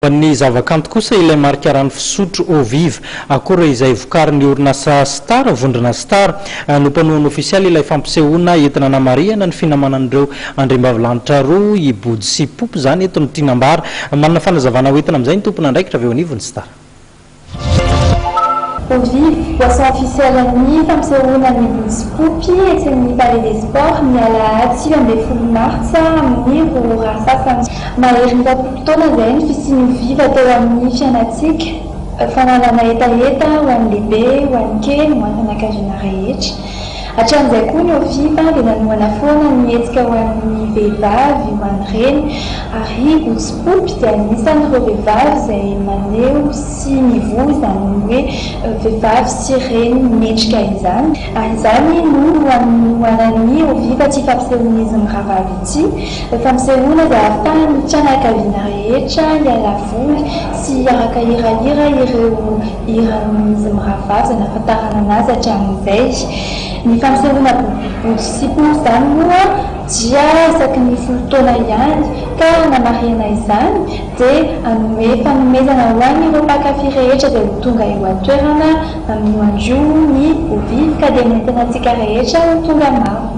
Ho an'ny zavakanto kosa ilay marika rano fisotro Eau Vive Acora izay vokarin'ny orinasa Star, vondrona Star, no mpanohana ofisialy ilay fampisehoana entina hanamarihana ny finamanan'ireo andriambavilanitra roa, i Body sy Poopy izany eto no tiana ambara. Manana fanazavana hoentina amin'izay ny tompon'andraikitra avy eo anivon'ny Star. Ho vive, boisson officielle ny fampisehoana ny Vontsikopy etsy amin'ny Palais des Sports ny alahady sivy ambin'ny folo martsa amin'ny roa ora sasany. Mahery ny roapolo taona izay ny fisian'io vive teo amin'ny fiainantsika. Fanalana hetaheta ho an'ny lehibe, ho an'ny kely, ho an'ny fianakaviana rehetra. Hatramin'izay koa ny OFIPA dia nanohana foana ny hetsika ho an'ny vehivavy ho an'ny reny ary i Gotsipopy dia anisan'ireo vehivavy izay maneho sy mivohy izany hoe vehivavy sy reny mendrika izany ary izany no hanohanan'ny OFIPA ity fampisehoan'izy mirahavavy ity, fampisehoana izay ahafahan'ny fianakaviana rehetra hiala voly sy hiaraka hirahira ireo Hiran'izy Miravazo no nahafantarana anazy hatramin'izay. Ny fampisehoana bodobodo sy pompy izany moa dia isaky ny folo taona ihany ka hanamarihana izany dia hanome fanomezana ho an'ireo mpankafy rehetra izay ho tonga eo an-toerana amin'io andro io ny Ovy ka dia nentinantsika rehetra ho tonga maro.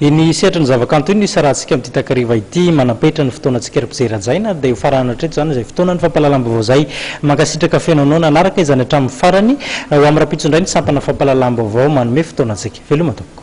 Iny sehatry ny zavakanto iny no isarahantsika amin'ity takariva ity. Manam-petra ny fotoanantsika ry mpijery hajaina. Dia ho farana hatreto izany izay fotoanan'ny fampahalalam-baovao izay. Mankasitraka feno anao nanaraka izany hatramin'ny farany. Ho amin'ny rahampitso indray ny sampana fampahalalam-baovao manome fotoanantsika. Veloma tompoko.